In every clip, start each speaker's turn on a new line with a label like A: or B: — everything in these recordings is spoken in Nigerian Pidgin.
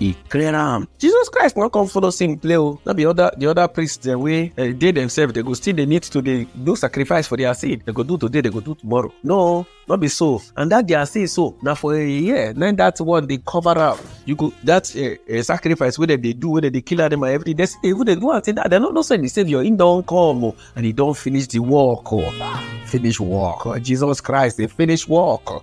A: e clear am jesus christ no come follow sin play o no be other the other priests dem wey eh, dey themselves they go still dey need to dey do sacrifice for their sin they go do today they go do tomorrow no no be so and that their sin so na for a year na that one dey cover am you go that eh, eh, sacrifice wey dem dey do wey dem dey kill animal every day they still dey even dey do am till that dem no know say the saviour him don come o and he don finish the work o finish work jesus christ dey finish work.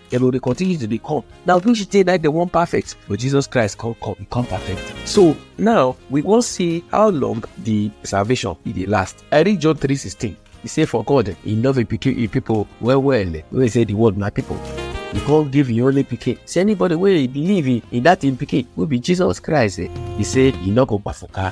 A: dem go dey continue to dey come na which day na dem wan perfect but jesus christ come come e come perfect so now we wan see how long the salvation e dey last i read john 3 16 e say for god e love e pikin e people well well wey say the world na people e come give e only pikin say anybody wey believe in in that im pikin wey be jesus christ eh, e say e no go kpafuka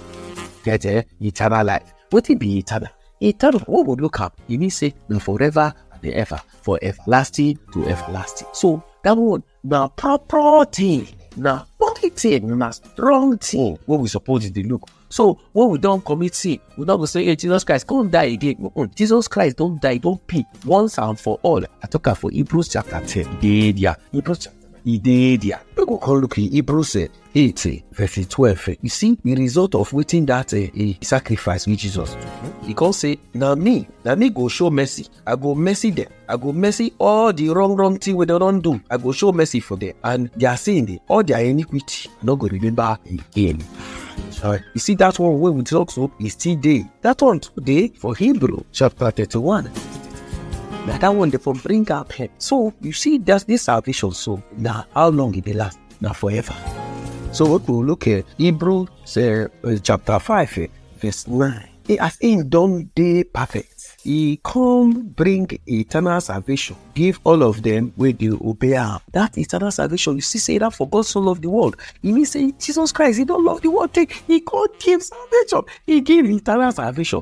A: get eh, eternal life wetin be eternal He tell them, who go look up? He mean say, na forever and ever, for everlasting to everlasting. So that one na proper thing, na body thing, na strong thing wey we suppose dey look. So when we don commit sin, we don go say, hey, Jesus Christ, come die again. Mm-mm. Jesus Christ don die, don pay once and for all. I talk am for Hebrews chapter 10. E dey there. Hebrews chapter e dey there. Make we come look in Hebrews eh, 8 eh, verse 12 eh, you see the result of wetin that eh, eh, sacrifice wey jesus do he come say na me na me go show mercy i go mercy them i go mercy all the wrong wrong thing wey dem don do i go show mercy for them and their sin dey all their iniquity i no go remember again. Sorry. You see that one wey we talk so e still dey that one too dey for hebrew chapter thirty-one na that one dey for bring am help so you see that this salvation so na how long e dey last na forever. So we go look at Hebrew say, uh, chapter 5, eh, verse 9. He, as him don dey perfect, he come bring eternal salvation, give all of them wey dey obey am. That eternal salvation, you see say that for God so love the world. E mean say Jesus Christ, he don love the world take, he come give salvation, he give eternal salvation.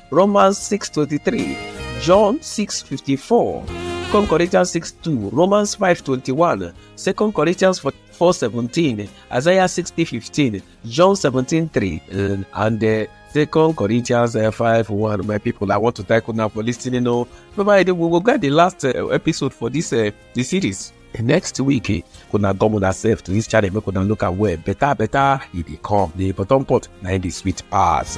A: Romans 6:23, John 6:54, 2 Corinthians 6:2, Romans 5:21, 2 Corinthians 4:17, Isaiah 60:15, John 17:3, and, and uh, Second Corinthians uh, 5 1. My people, I want to thank you now for listening. Oh, bye we will get the last uh, episode for this uh, the series. next week eh, una come una sef to this channel make una look am well better better e dey come the bottom pot na im dey sweet pass.